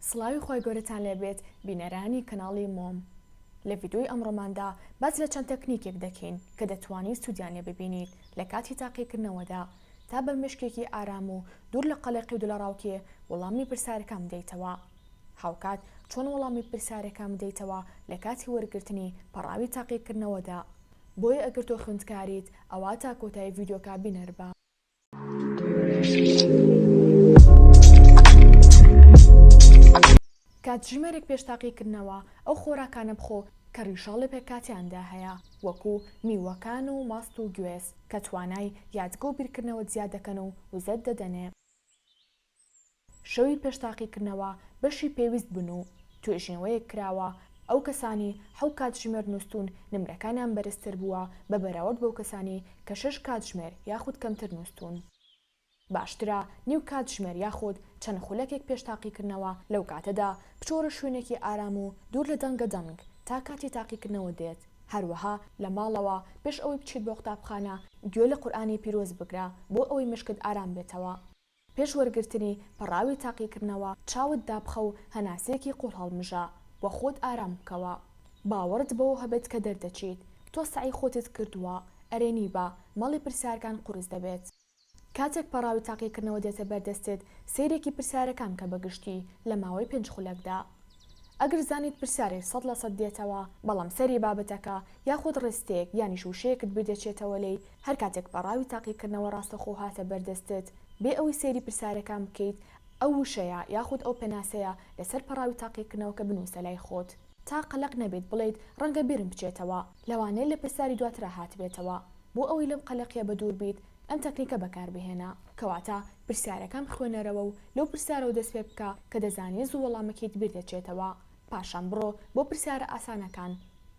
سڵاوی خوای گەورەتان لێبێت بینەرانی کەناڵی مۆم لە ڤیدۆی ئەمڕۆماندا باس لە چەند تەکنیکێک دەکەین کە دەتوانیت سودیان لێ ببینیت لە کاتی تاقیکردنەوەدا تا بە مێشکێکی ئارام و دوور لە قەلەقی و دڵەڕاوکێ وەڵامی پرسارەکان بدەیتەوە هاوکات چۆن وەڵامی پرسارەکان بدەیتەوە لە کاتی وەرگرتنی پەڕاوی تاقیکردنەوەدا بۆیە ئەگەر تۆ خوێندکاریت ئەوا تا کۆتایی ڤیدۆکە بینەربە. کاتژمێرێک پێش تاقیکردنەوە ئەو خۆراکانە بخۆ کە ڕیشاڵ لە پێکهاتەیاندا هەیە، وەکو میوەکان و ماست و گوێز، کە توانای یادگە و بیرکردنەوەت زیاد دەکەن و وزەت دەدەنێ. شەوی پێش تاقیکردنەوە بەشی پێویست بوون و توێژینەوەیەک کراوە، ئەو کەسانی حەو کاتژمێر نووستوون نمرەکانیان بەرزتر بووە بە بەراورد بەو کەسانی کە شەش کاتژمێر یاخود کەمتر نووستوون. باشترە نیو کاتژمێر یاخود چەند خولەکێک پێش تاقیکردنەوە لەو کاتەدا بچۆرە شوێنێکی ئارام و دوور لە دەنگە دەنگ تا کاتی تاقیکردنەوە دێت، هەروەها لە ماڵەوە پێش ئەوەی بچیت بۆ قوتابخانە گوێ لە قورئانی پیرۆز بگرە بۆ ئەوەی مێشکت ئارام بێتەوە. پێش وەرگرتنی پەڕاوی تاقیکردنەوە چاوت دابخە و هەناسەیەکی قوڵ هەڵمژە و خۆت ئارام بکەوە. باوەڕت بەوە هەبێت کە دەردەچیت. تۆ سەعی خۆتت کردووە. ئەرێ نیبا، مەڵی پرسیارکان قورس دەبێت. کاتێک پەڕاوی تاقیکردنەوە دێتە بەردەستت، سەیرێکی پرسیارەکان بکە بە گشتی لە ماوەی پێنج خولەکدا. ئەگەر زانیت پرسیارێک سەد لە سەد دێتەوە بەڵام سەری بابەتەکە یاخود ڕستەیەک یانیش وشەیەکت بیردەچێتەوە لێی هەرکاتێک پەڕاوی تاقیکردنەوە ڕاستەخۆ هاتە بەردەستت بێ ئەوەی سەیری پرسیارەکان بکەیت ئەو وشەیە یاخود ئەو پێناسەیە لەسەر پەڕاوی تاقیکردنەوەکە بنوسە لای خۆت تا قەلەق نەبیت بڵێیت ڕەنگە بیرم بچێتەوە لەوانەیە لە پرسیاری دواترا هاتبێتەوە بۆ ئەوەی لەم قەلەقیە بەدوور بیت ئەم تەکنیکە بەکاربهێنە کەواتە پرسیارەکەم خوێنەرەوە و لەو پرسیارەوە دەست پێ بکە کە دەزانی زوو وەڵامەکەیت بیر دەچێتەوە. پاشان بڕۆ بۆ پرسیارە ئاسانەکان.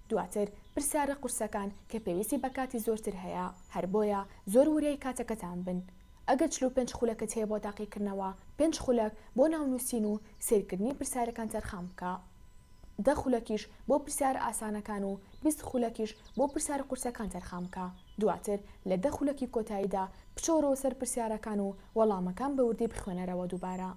دواتر پرسیارە قورسەکان کە پێویستی بە کاتی زۆرتر هەیە. هەر بۆیە زۆر وریای کاتەکەتان بن. ئەگەر چل و پێنج خولەکت هەیە بۆ تاقیکردنەوە، پێنج خولەک بۆ ناونووسین و سەیرکردنی پرسیارەکان تەرخان بکە. دە خولەکیش بۆ پرسیارە ئاسانەکان و بیست خولەکیش بۆ پرسیارە قورسەکان تەرخان بکە، دواتر لە دە خولەکی کۆتاییدا بچۆرەوە سەر پرسیارەکان و وەڵامەکان بە وردی بخوێنەرەوە دووبارە.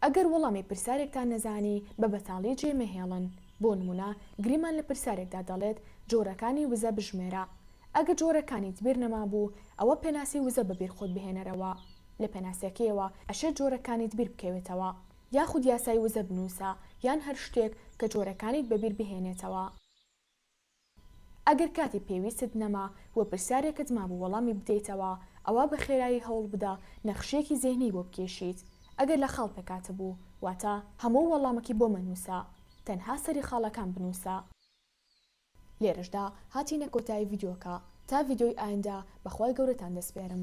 ئەگەر وەڵامی پرسیارێکتان نەزانی بە بەتاڵی جێی مەهێڵن، بۆ نموونە گریمان لە پرسیارێکدا دەڵێت جۆرەکانی وزە بژمێرە، ئەگەر جۆرەکانیت بیر نەمابوو ئەوە پێناسی وزە بەبیر خۆت بهێنەرەوە، لە پێناسەکەیەوە ئەشێت جۆرەکانیت بیر بکەوێتەوە. یاخود یاسای وزە بنووسە یان هەر شتێک کە جۆرەکانیت بەبیر بهێنێتەوە. ئەگەر کاتی پێویستت نەما و پرسیارێکت مابوو وەڵامی بدەیتەوە، ئەوا بە خێرایی هەوڵ بدە نەخشەیەکی زێهنی بۆ بکێشیت، ئەگەر لە خاڵ پێکهاتبوو، واتە هەموو وەڵامەکی بۆ مەنووسە، تەنها سەری خاڵەکان بنووسە. لێرەشدا هاتینە کۆتایی ڤیدیۆکە، تا ڤیدیۆی ئایندە بە خوای گەورەتان دەسپێرم.